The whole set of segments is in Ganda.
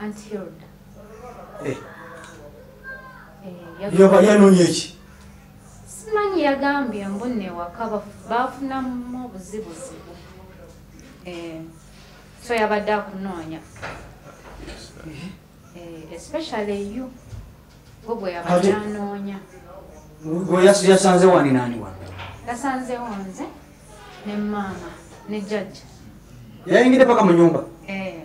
Aunt Hilda. Eh. Eh, Yoba yanonye ki? Simanyi yagambye mbunne waka bafunamu obuzibuzibu. Eh. So yabadde akunoonya. Eh. eh especially you. Gwe yabadde anoonya. Gwe yasanze wani nani wani? Yasanze wonze ne mama ne judge. Yaingide paka mu nyumba. Eh.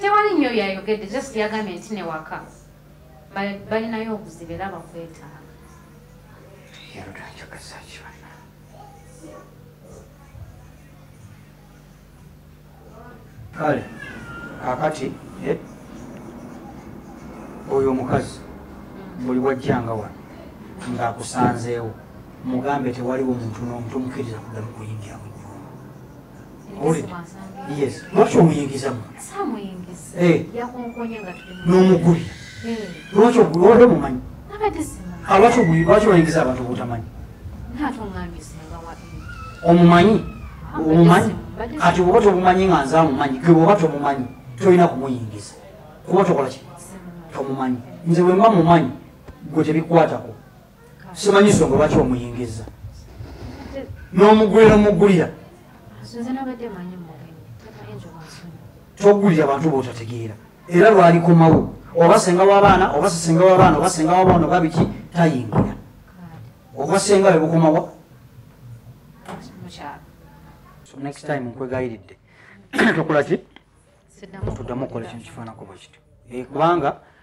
tewali nyo yayogedde just yagambye nti newaka balinayo obuzibu era bakwetaaga kale kakati eh, oyo omukazi mm. buli wajjanga wano ngaakusanzeewo mugambe tewaliwo muntu nomutumukiriza kuddamu kuyingira mu yes lwaki omuyingiza mu eh. n'omuguli eh. lwaki ogulwade mumanyi ah, lwaki oguli lwaki oyingiza abantu obutamanyi omumanyi omumanyi kati oba tomumanyi nga nze amumanyi ge oba tomumanyi tolina kumuyingiza kuba tokola ki tomumanyi nze wemba mumanyi gwe tebikwatako simanyi nsonga lwaki omuyingiza n'omugulira omugulira togulira bantu botategeera era lwalikomawo oba senga wabaana oba sisenga wabaana oba senga wabaana oba biki tayingira obwa senga webukomawa next time nkwegayiridde tokola ki tuddamu okukola ekintu kifaanako bwe kityo eh, kubanga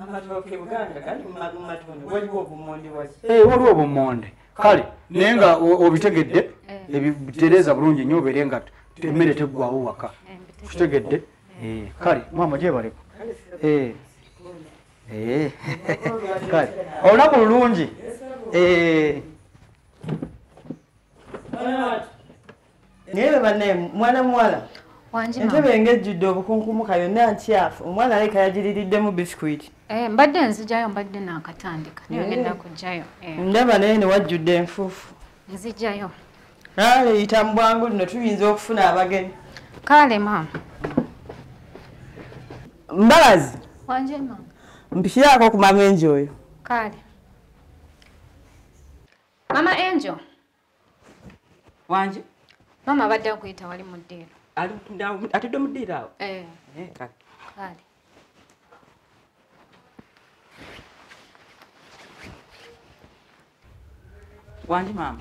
amatooke buganda gali mumatunda waliwo obumonde waki ee eh, waliwo obumonde kale naye nga obitegedde eh. ebitereza bulungi nnyo obeere nga emmere teggwawo waka kitegedde eh, kale maama gyebaleko kale olunaku lulungi naye bebanaye mwana muwala entebe nga ejjudde obukunkumuka yonna ntyafu omwana aleka yagiririddemu biscuit eh, mbadde nzijayo mbadde nakatandika nayogendakujayo eh. eh. ndaba naye newajjudde enfuufu nzijayo ale yita mu bwangu lino tuyinza okufuna abagenyi kale maama mbabazi mpikiraako ku mama enjo oyo kale mama enjo wanje maama abadde akuyita wali mu ddiiro atudde mu ddiiro awo eh. eh, kale wandi maama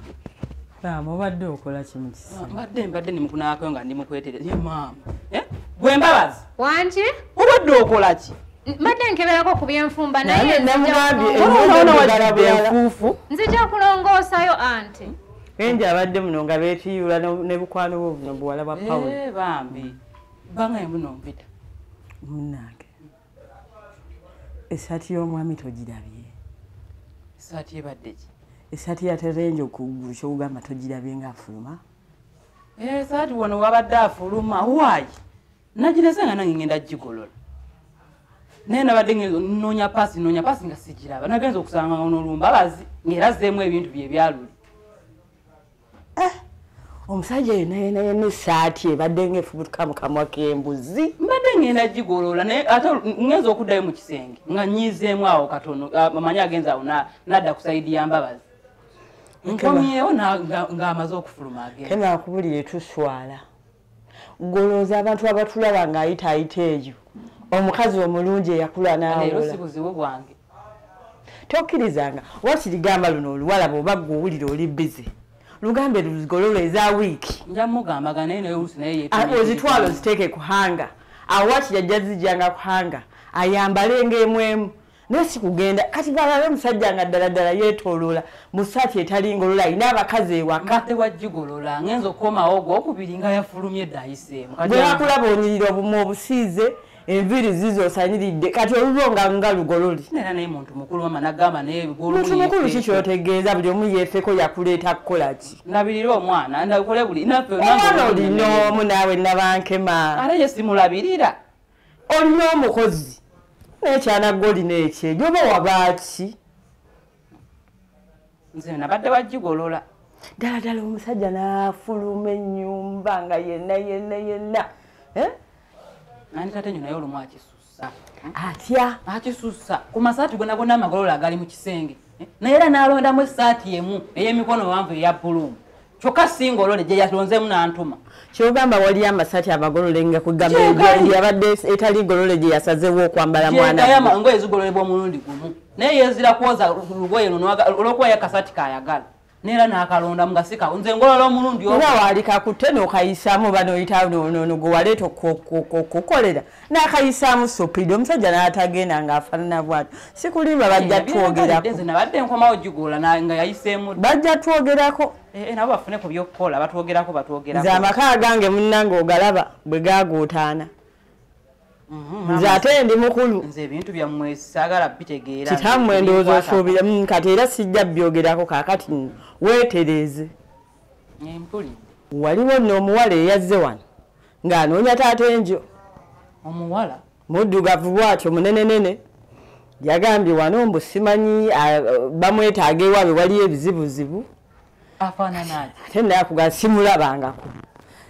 maama obadde okola kimu kisimbadde ah, mbadde nimukunaako nga ndi mukwetereza ye maama eh? gwe mbabazi wangi obadde okola ki mbadde nkeberako ku byenfumba nayenamugambyeenfuufu nzija kulongoosayo anti enje abadde muno nga betiyula ne bukwano bwo buno buwala bwa pawulo eh, bambi banga emuno mpita munange esaati y'omwami togirabye esaati ebadde ki esaati yaterenje okuggulu kyokugamba togirabye nga afuluma esaati eh, wano wabadde afuluma wayi nagireze nga nange ngenda gigolola naye nabadde nonya pasi nonya pasi nga sigiraba nagenza okusanga nolumba abazi ngaera zeemu ebintu byebyaluli eh, omusajja oyo naye naye nesaati ebadde nga efubutuka mukamwa kembuzi mbadde ngenda gigolola naye ate ngenza okuddayo mu kisenge nga nyiizeemu awo katono amanyi agenza awo nadda ku saidi ya mbabazi nkomyewo ngaamaze okufuluma agenza kenakubulire tuswala golooza abantu abatulaba nga ayita ayita eyo omukazi omulungi eyakula nawobuzibu bwange tokkirizanga oba kirigamba luno oluwala bwoba gwe owulira oli bizi lugambe luzigololo eza wiiki ah, ozitwala oziteeke kuhanga awo wakiri ajja zijjanga kuhanga ayambale ngaemu emu naye sikugenda kati balala omusajja nga ddala ddala yetoloola mu saati etali ngolola alina abakazi ewakate wajigolola ngenza okukomawo gwokubiri nga yafulumye dayiseemu gwebakulaba onyirira obumu obusiize enviri zizo osaniridde kati olulo nga nga lugololi muntu mukulu ki kyotegeeza buli omu yefeko yakuleeta kukolaki nabirira omwana ndakole buli naffe olina omu naawe nabankema ara yesimulabirira olina omukozi naye kyanagga olina ekyejo oba wabaaki nze nabadde wagigolola ddala ddala omusajja nafuluma ennyumba nga yenna yenna yenna eh? nandikate nyo naye olumu akisusa atya akisusa ku masaati gona gona amagolola agali mu kisenge eh? naye era nalondamu esaati emu ey'emikono wanvu eya buluumu kyokka singa olole gye yalonzemu n'antuma kyogamba waliyo amasaati abagololenga kugamba yabadde etali golole gye yasazewo okwambala mwanangoye zigololebwa omulundi gumu naye yezira kwoza lugoye luno olwokuba ye kasaati kayagala neera nakalonda mugasika nze ngolola omulundi oba waali kakutte nokayisamu banoyita nono gwewaleeta okukolera nakayisaamu supidi omusajja natagenda nga afanana bwati sikulimba bajja twogerabajja twogerako eh, eh, nabo bafune ku byokukola batwogerako batwogerako nze amaka gange munange ogalaba bwe gaguutaana mhm, nze ate ndi mukulu nze ebintu byammwe sagala bitegeera kitammwe ndowooza osuubira mm, kati era sijja byogerako kakati weetereeze eh, waliwo noomuwala eyazze wano ng'anoonya taata enjo omuwala muddugavu bwatyo munenenene yagambye wano mbu simanyi bamwetaaga ewaabe waliyo ebizibuzibu ate naye akugaa simulabangako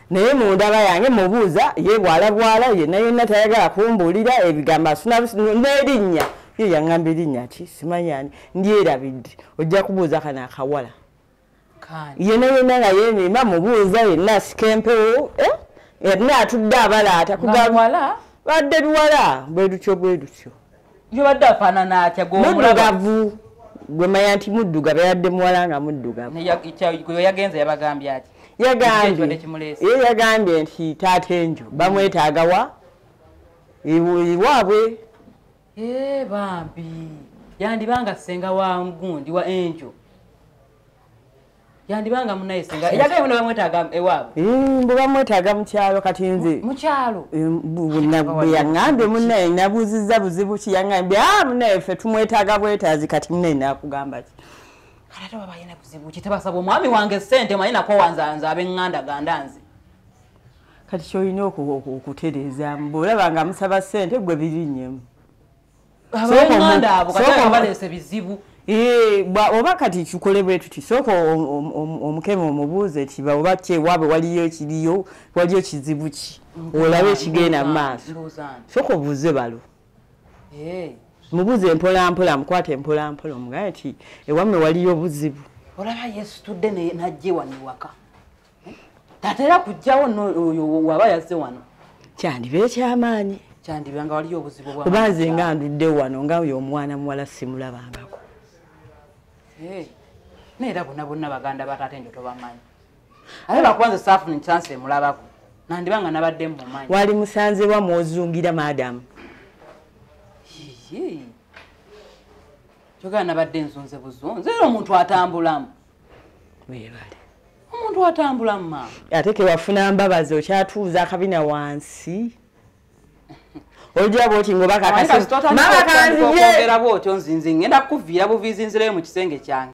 naye mundaba yange mubuuza ye bwala bwala yena yena tayagala kumbuulira ebigambo asuna n'erinnya ye yaŋŋamba erinnya ki simanyani ndyerabidde ojja kubuuza kana akawala yena yena nga yemima mubuuza yena asika empewo eh? yena atudde abalaata kugamuwala badde biwala bwedutyo bwedutyo yobadde afaanana atya gomuddugavu gwemanya nti muddugavu yabadde muwala nga muddugavu yagenze yabagambye ati yagambye ye yagambye nti taata enjo bamwetaagawa iwaabwe Eee eh, bambi yandibanga senga wa gundi wa enjo yandibanga munaye senga eyagaye muno bamwetaaga ewaabwe eh, mbu bamwetaaga mukyalo kati nze mukyalo eh, bwe yaŋambye munaye nabuuzizza buzibu ki yaŋambye a ah, munaye ffe tumwetaaga bwetaazi kati munaye nakugamba ki kati ate baba yina buzibu ki tebasaba omwami wange sente manyi nakowanzanza abenganda ganda nze kati kyolina okutereezaamu bwolaba nga musaba ssente gwe birinyemu oba kati kikole bwe tuti sooka omukema omubuuze ti oba kyewaabe waliyo ekiriyo waliyo kizibu ki olabe ekigenda mu maaso sooka obuuze balo eh. mubuuze empolampola mukwate empolampola omugaye ti ewamme waliyo obuzibu olaba yesitudde najje wano ewaka tatera kujjawo oyo waba yazze wano kyandiba ekyamaanyi kyandiba nga waliyo obuzibu oba nze nga ndudde wano nga oyo omwana muwala simulabangako eh, naye era bona bonna baganda bataate njo tobamanyi aye bakubanze saafuni kyansi emulabako nandiba nga nabadde mumumanyi wali musanzewa mwozungira madamu kyogera nabadde enzunze buzunze era omuntu atambulamu webale omuntu atambula mumama ate kewafuna mbabazi okyatuuza akabina wansi ojja bwoti ngoba kakasmama kanziyeera bwotyo nzinzi ngenda kukuviira buviizi nzireyo mu kisenge kyange